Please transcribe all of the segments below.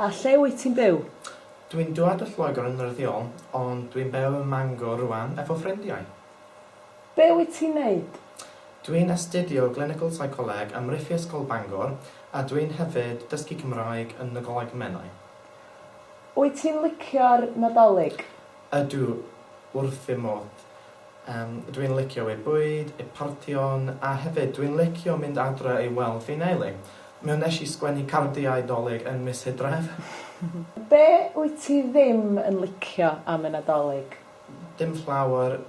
A lle wyt ti'n byw? Dw i'n dwad o Lloegr yn wreiddiol, ond dw i'n byw ym Mangor rwan efo ffrindiau. Be wyt ti'n neud? Dw i'n astudio Glinical Psycholeg ym Mhrifysgol Bangor a dw i'n hefyd dysgu Cymraeg yn Nadolig Menai. Wyt ti'n licio'r Nadolig? Ydw, wrth fy modd. Dw i'n licio ei bwyd, ei partïon, a hefyd dw i'n licio mynd adre i weld fy nheulu. Mi wnes i sgwennu cardiau 'Dolig yn mis Hydref. Be wyt ti ddim yn licio am y Nadolig? Dim llawer.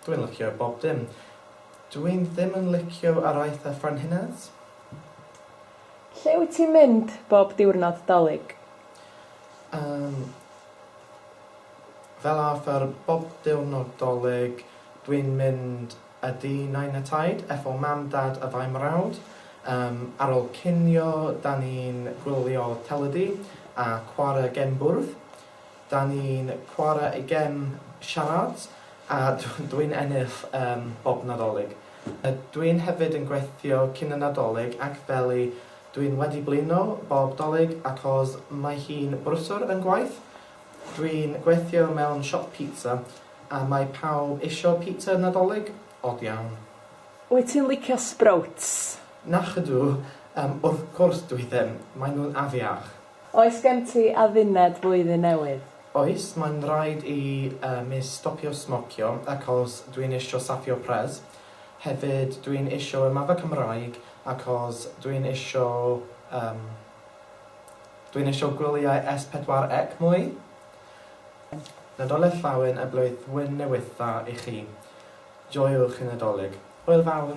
Dw i'n licio bob dim. Dw i'n ddim yn licio araith a ffrenhines. Lle wyt ti'n mynd bob diwrnod 'Dolig? Yym. Fel arfer bob diwrnod Dolig dwi'n mynd a dŷ Nain a Taid, FO Mam, Dad a ddau mrawd. Yym ar ôl cinio 'da ni'n gwylio teledu a chwarae gem bwrdd. 'Da ni'n chwarae y gem siarâd a dwi'n ennill yym bob Nadolig. Dwi'n hefyd yn gweithio cyn y Nadolig ac feli Dwi'n wedi blino bob 'Dolig acos mae hi'n brwswr yn gwaith. Dwi'n gweithio mewn siop pizza a mae pawb isio pizza Nadolig. Od iawn. Wyt ti'n licio sprouts? Nacydw, yym wrth cwrs dwi ddim. Maen nhw'n afiach. Oes gen ti adduned Flwyddyn Newydd? Oes, mae'n rhaid i mi stopio smocio acos dwi'n isio safio pres. Hefyd dwi'n isio ymadda Cymraeg acos dwi'n isio yym dwi'n isio gwyliau S pedwar Ec mwy. Nadolig Llawen a Blwyddwyn Newydd Dda i chi. Joiwch y Nadolig. Hwyl fawr!